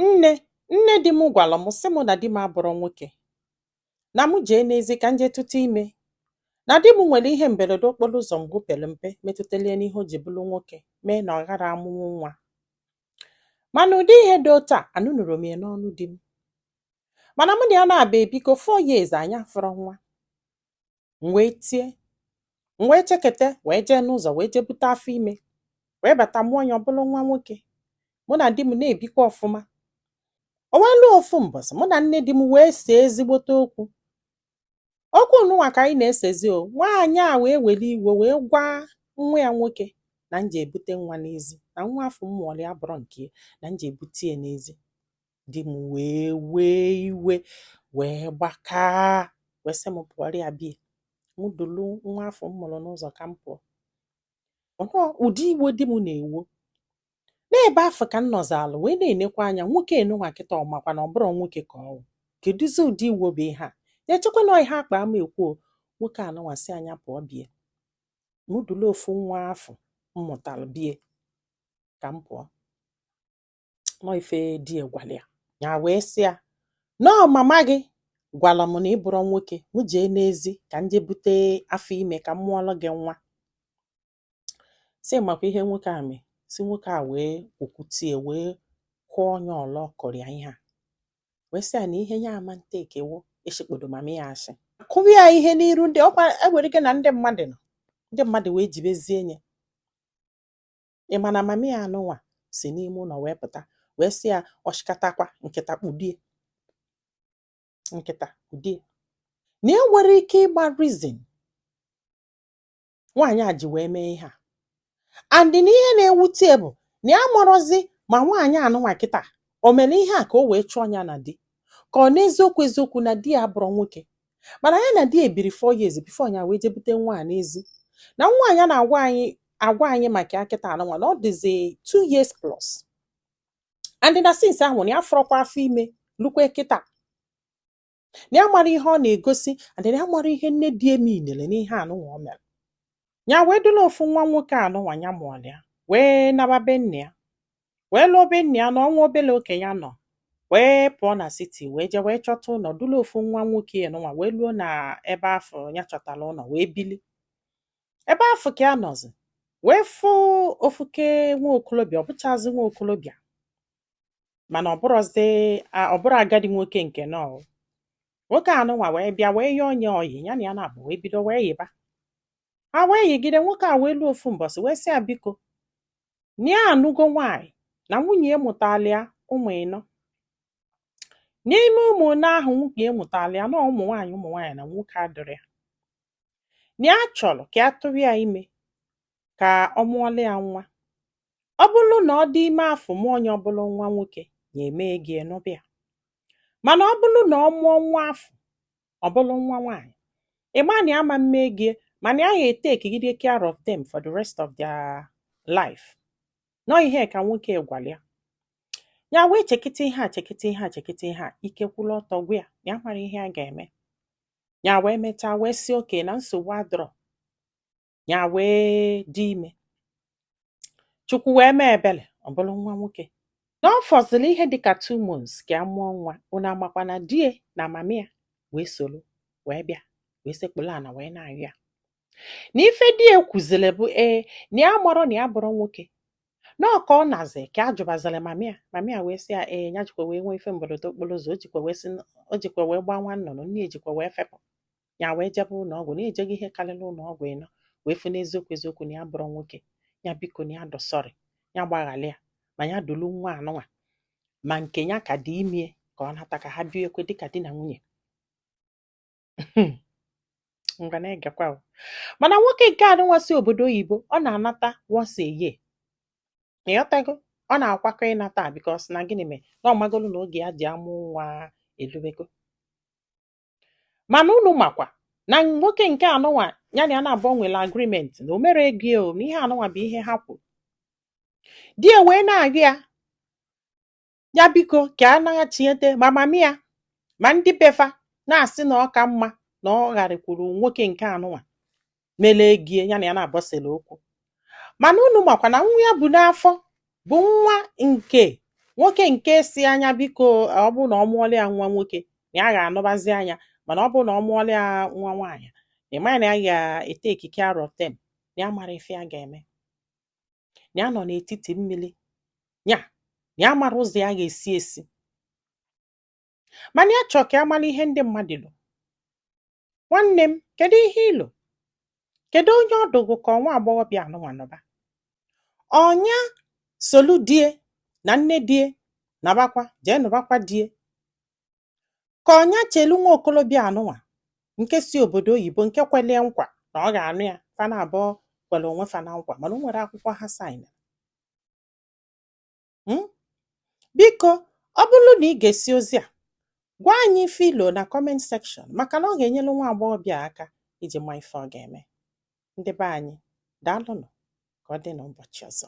Nne nne di m gwara m sị mụ na di m abụrọ nwoke, na m jee n'ezi ka m jee tụta ime, na di m nwere ihe mberede okporo ụzọ mgbe o pere mpe metụtara ya n'ihe o ji bụrụ nwoke mee na ọ ghara amụnwu nwa. Mana ụdị ihe dị otu a anụnụrọ m ya n'ọnụ di m. Mana mụ na ya na-abịa ebikọ four years anyị afụrọ nwa. m wee tie m wee chekete wee jee n'ụzọ wee jee bute afọ ime wee bata mụọ ya ọ bụrụ nwa nwoke mụ na di m na-ebikwa ọfụma o wee luo ofu mbọsị mụ na nne di m wee see ezigbote okwu okwu nụnwa ka anyị na-esezi o nwaanyị a wee were iwe wee gwa nwa ya nwoke na m jee bute nwa n'ezi na nwa afụ m mụọrọ ya abụrọ nke ya na m jee bute ya n'ezi di m wee wee iwe wee gbakaa wee sị m pụọrọ ya be ya m dulu nwa afụ m mụrụ n'ụzọ ka m pụọ na ụdị iwe di m na-ewo n'ebe afụ ka m nọzalụ wee na-enekwa anya nwoke anụnwa kịta ọ makwa na ọ bụrọ nwoke ka ọ wụ kedụzi ụdị iwo bụ ihe a na-echekwa na ihe akpa ama ekwu o nwoke anụnwa sị ya pụọ be ya mụ dulu ofu nwa afụ m mụtara be ya ka m pụọ na ọ ife di ya gwara ya ya wee sị ya na ọ mama gị gwara m na ị bụrọ nwoke m jee n'ezi ka m jee bute afọ ime ka m mụọrọ gị nwa sị ị makwa ihe nwoke a mee sị nwoke a wee okwutie wee kụọ ya ọla ọ kụrụ ya ihe a wee sị ya na ihe ya ama take wụ isikpodo mama ya asị kụwa ya ihe n'iru ndị ọkwa ewere gị na ndị mmadụ nọ ndị mmadụ wee jibezie ya ị ma na mama ya anụnwa si n'ime ụlọ wee pụta wee sị ya ọ chịkatakwa nkịta kpudie nkịta kpudie na e nwere ike ịgba reason nwaanyị a ji wee mee ihe a and na ihe na-ewute ya bụ na ya amarọzi ma nwaanyị anụnwa kịta o mere ihe a ka o wee chụọ ya na di ka ọ na eziokwu eziokwu na di ya abụrọ nwoke mana ya na di ya ebiri four years before ya wee jee bute nwa a n'ezi na nwa a ya na-agwa anyị agwa anyị maka ya kịta anụnwa na ọ dịzi two years plus and na since ahụ na ya afụrọkwa afọ ime lukwee kịta na ya amarọ ihe ọ na-egosi and na ya amarọ ihe nne di ya meanere n'ihe anụnwa o mere ya wee dulu ofu nwa nwoke anụnwa ya mụọlụ ya wee naba be nne ya wee luo be nne ya na ọ nwa obele oge ya nọ wee pụọ na city wee jee wee chọta ụlọ dulu ofu nwa nwoke anụnwa wee luo na ebe afụ ya chọtara ụlọ wee bili ebe afụ ka ya nọzi wee fụ ofuke nwa okolobịa ọ bụchazi nwa okolobịa mana ọ bụrọzi ọ bụrọ agadi nwoke nke nọ nwoke anụnwa wee bịa wee yọọ ya oyi ya na ya naabọ wee bido wee yiba ha wee yigide nwoke a wee luo ofu mbọsị wee sị ya biko na ya anụgo nwaanyị na nwunye ya mụtara ya ụmụ ịnọ n'ime ụmụ ịnọ ahụ nwunye ya mụtara ya na ọ ụmụ nwaanyị ụmụ nwaanyị na nwoke adịrọ ya na ya chọrọ ka ya tụrụ ya ime ka ọ mụọla ya nwa ọ bụrụ na ọ dị ime afụ mụọ nya ọ bụrụ nwa nwoke ya emee gịnị anụba ya mana ọ bụrụ na ọ mụọ nwa afụ ọ bụrụ nwa nwaanyị ị ma na ya ama mme gịnị mana ya ya etekigide care of them for the rest of their life na ọ ihe ka nwoke gwara ya ya wee chekata ihe a chekata ihe a chekata ihe a ike kwụrụ ọtọ gwụ ya na ya amarọ ihe ya ga-eme ya wee mechaa wee sị okay na nsogbu adịrọ ya wee dị ime chukwu wee mee ebele ọ bụrụ nwa nwoke na ọ fọziri ihe dịka two months ka ya mụọ nwa unu makwa na di ya na mami ya wee soro wee bịa wee sekpuru ana wee na-ayọ ya na ife di ya kwuziri bụ ee na ya amarọ na ya abụrọ nwoke na ọ ka ọ nazi ka ya jụbaziri mami ya mami ya wee sị ya ee ya jikwa wee nwee ife mberede okporo ụzọ o jikwa wee sị o jikwa wee gbaa nwa nnụnụ nne ya jikwa wee fepụ ya wee jebe ụlọ ọgwụ na ya ejego ihe karịrị ụlọ ọgwụ ịnọ wee fụ n'eziokwu eziokwu na ya abụrọ nwoke ya biko na ya dị sorry ya gbaghalụ ya ma ya dulu nwa anụnwa ma nke ya ka dị ime ya ka ọ nata ka ha biekwe dịka di na nwunye hmm. ngwa na-egekwa mana nwoke nke anụnwa si obodo oyibo ọ na-anata once a year ị ghọtago ọ na-akwakọ ịnata because na gịnị mee na ọ magolu na oge ya ji amụ nwa elubego mana unu makwa na nwoke nke anụnwa ya na ya naabọ nwere agreement na o mere gịnị o na ihe anụnwa bụ ihe ha kwuru di ya wee na-arịọ ya ya biko ka ya naghachite ma mami ya ma ndị befa na-asị na ọ ka mma na ọ gharịkwuru nwoke nke anụnwa mele gịnị ya na ya naabọ sele okwu mana unu makwa na nwa ya bu n'afọ bụ nwa nke nwoke nke sị nya biko ọ bụrụ na ọ mụọla ya nwa nwoke na ya ga-anụbazi nya mana ọ bụrụ na ọ mụọla ya nwa nwaanyị ị ma na ya ga-eteki care of them na ya amarọ ife ya ga-eme na ya nọ n'etiti mmiri ya na ya amarọ ụzọ ya ga-esi esi mana ya chọọ ka ya mara ihe ndị mmadụ lo nwanne m kedu ihe i lo kedu onye ọ dị gị ka ọ nwa agbọghọbịa anụnwa nụba ọ nya solu di ya na nne di ya nabakwa jee nụbakwa di ya ka ọ nya chelu nwa okolobịa anụnwa nke si obodo oyibo nke kwelu ya nkwa na ọ ga-anụ ya fa na abụọ kwere onwe fa na nkwa mana o nwerọ akwụkwọ ha saịna Biko, ọ bụrụ na i gesịa ozi a, gwa anyị ife i lo na comment section maka na ọ ga-enyelu nwa agbọghọbịa aka iji ma ife ọ ga-eme. Ndị be anyị, daalụnụ ka ọ dị n'ụbọchị ọzọ.